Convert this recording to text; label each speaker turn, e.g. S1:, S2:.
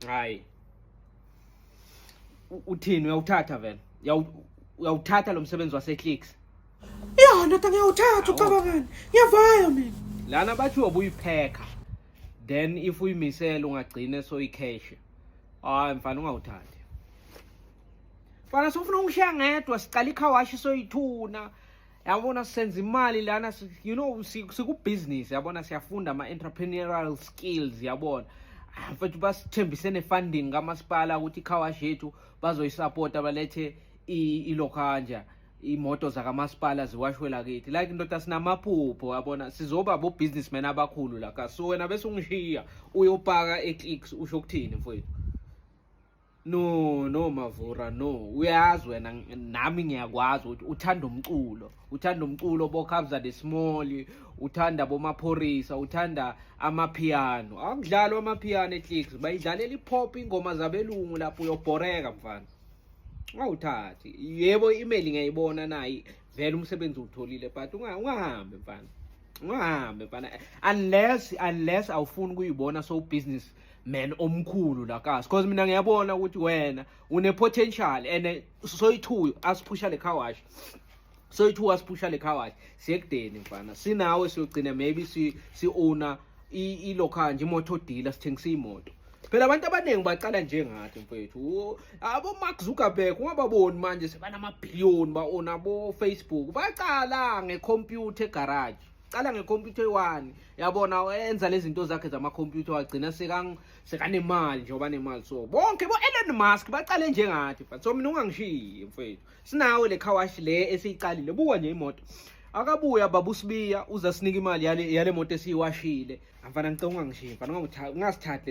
S1: hayi uthini uyawuthatha vele uyawuthatha lo msebenzi waseclicks ya
S2: ndoda ngiyawuthatha ucabangani ngiyavaya mina lana bathi
S1: uyobuyiphekha then if uyimisele ungagcine soyikheshe hayi mfana ungawuthathi mfana sofuna ungishiya ngedwa siqala ikhawashi soyithuna yabona senza imali lana you know sikubhizinisi yabona siyafunda ama-entrepreneurial skills yabona ah, mfethu basithembise ne-funding kamasipala ukuthi ikhawash yethu bazoyisapota balethe ilokhanja imoto zakamasipala ziwashwe lakithi like ndoda sinamaphupho yabona sizoba bo-businessman abakhulu laka so wena bese ungishiya uyopaka e-clicks usho ukuthini mfowethu No no Mavura no uyazi wena nami ngiyakwazi ukuthi uthanda umculo uthanda umculo bokhabza the small uthanda bomaphorisa uthanda amapiano akudlalwa amapiano eclicks bayidlalela ipop ingoma zabelungu lapho uyobhoreka mfana ungawuthathi yebo i-email ngiyayibona nayi vele umsebenzi uwutholile but ungahambi mfana ungahambi mfana unless unless awufuni kuyibona so business man omkhulu la kasi because mina ngiyabona ukuthi wena une potential and eh, soyithu asiphusha le car wash soyithu asiphusha le car wash sekudeni mfana sinawe siyogcina maybe si si owner i local nje imoto dealer sithengisa imoto phela abantu abaningi baqala njengathi mfethu abo Mark Zuckerberg ungababoni manje sebanama billion ba ona bo Facebook baqala ngecomputer garage cala ngekhompyutha eyi-one yabona enza lezi zinto zakhe zamakhompyutha wagcina sekanemali nje obanemali so bonke bo-elon musk bacale njengathi but so mina ungangishiyi mfethu sinawe le khawashi le esiyiqalile buka nje imoto akabuya babusibiya uza sinika imali yale, yale moto esiyiwashile amfana ngicela ungangishiyi mfana ungasithathi